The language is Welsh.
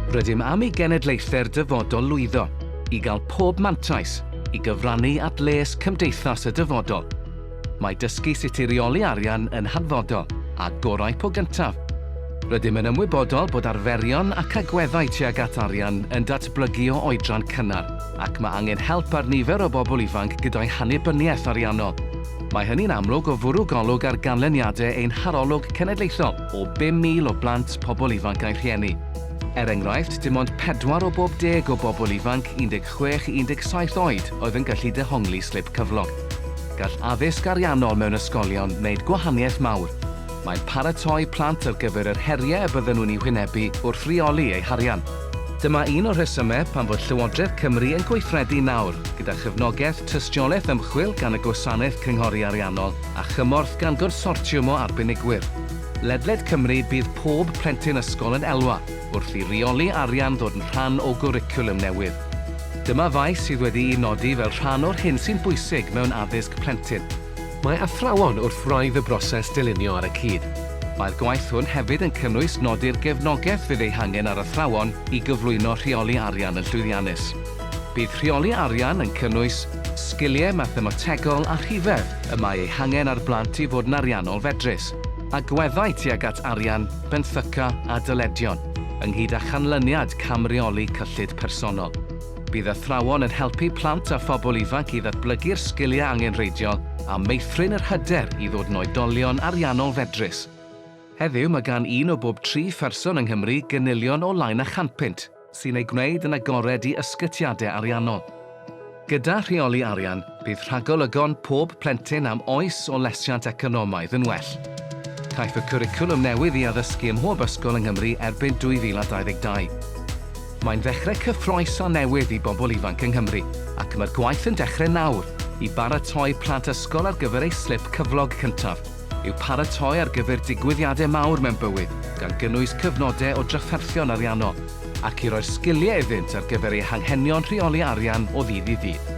Rydym am i genedlaethau'r dyfodol lwyddo i gael pob mantais i gyfrannu at les cymdeithas y dyfodol. Mae dysgu sut i reoli arian yn hanfodol, a gorau po gyntaf. Rydym yn ymwybodol bod arferion ac agweddau tuag at arian yn datblygu o oedran cynnar, ac mae angen help ar nifer o bobl ifanc gyda'i hannibyniaeth ariannol. Mae hynny'n amlwg o fwrw golwg ar ganlyniadau ein harolwg cenedlaethol o 5,000 o blant, pobl ifanc a'u rhieni. Er enghraifft, dim ond pedwar o bob deg o bobl ifanc 16 i 17 oed oedd yn gallu dehongli slip cyflog. Gall addysg ariannol mewn ysgolion wneud gwahaniaeth mawr. Mae'n paratoi plant ar gyfer yr heriau y bydden nhw'n eu hwynebu wrth reoli eu harian. Dyma un o'r rhesymau pam fod Llywodraeth Cymru yn gweithredu nawr gyda chefnogaeth Tystiolaeth ymchwil gan y Gwasanaeth Cynghori Ariannol a chymorth gan Gonsortiwm o Arbenigwyr ledled Cymru Bydd pob plentyn ysgol yn elwa wrth i reoli arian ddod yn rhan o gwricwlwm newydd. Dyma faes sydd wedi'i nodi fel rhan o'r hyn sy'n bwysig mewn addysg plentyn. Mae athrawon wrth wraidd y broses dylunio ar y cyd. Mae'r gwaith hwn hefyd yn cynnwys nodi'r gefnogaeth fydd ei hangen ar athrawon i gyflwyno rheoli arian yn llwyddiannus. Bydd rheoli arian yn cynnwys sgiliau mathemategol a rhifedd y mae eu hangen ar blant i fod yn ariannol fedrus, agweddau tuag at arian, benthyca a dyledion, ynghyd â chanlyniad cam-reoli cyllid personol. Bydd athrawon yn helpu plant a phobl ifanc i ddatblygu'r sgiliau angenrheidiol a meithrin yr hyder i ddod yn oedolion ariannol fedrus. Heddiw, mae gan un o bob tri pherson yng Nghymru gynilion o lain a chanpunt. sy'n ei gwneud yn agored i ysgytiadau ariannol. Gyda rheoli arian, bydd rhagolygon pob plentyn am oes o lesiant economaidd yn well. Caiff y cwricwlwm newydd i addysgu ym mhob ysgol yng Nghymru erbyn 2022. Mae'n ddechrau cyffrous a newydd i bobl ifanc yng Nghymru ac mae'r gwaith yn dechrau nawr i baratoi plant ysgol ar gyfer eu slip cyflog cyntaf. yw paratoi ar gyfer digwyddiadau mawr mewn bywyd, gan gynnwys cyfnodau o drafferthion ariannol, ac i roi'r sgiliau iddynt ar gyfer eu hanghenion rheoli arian o ddydd i ddydd.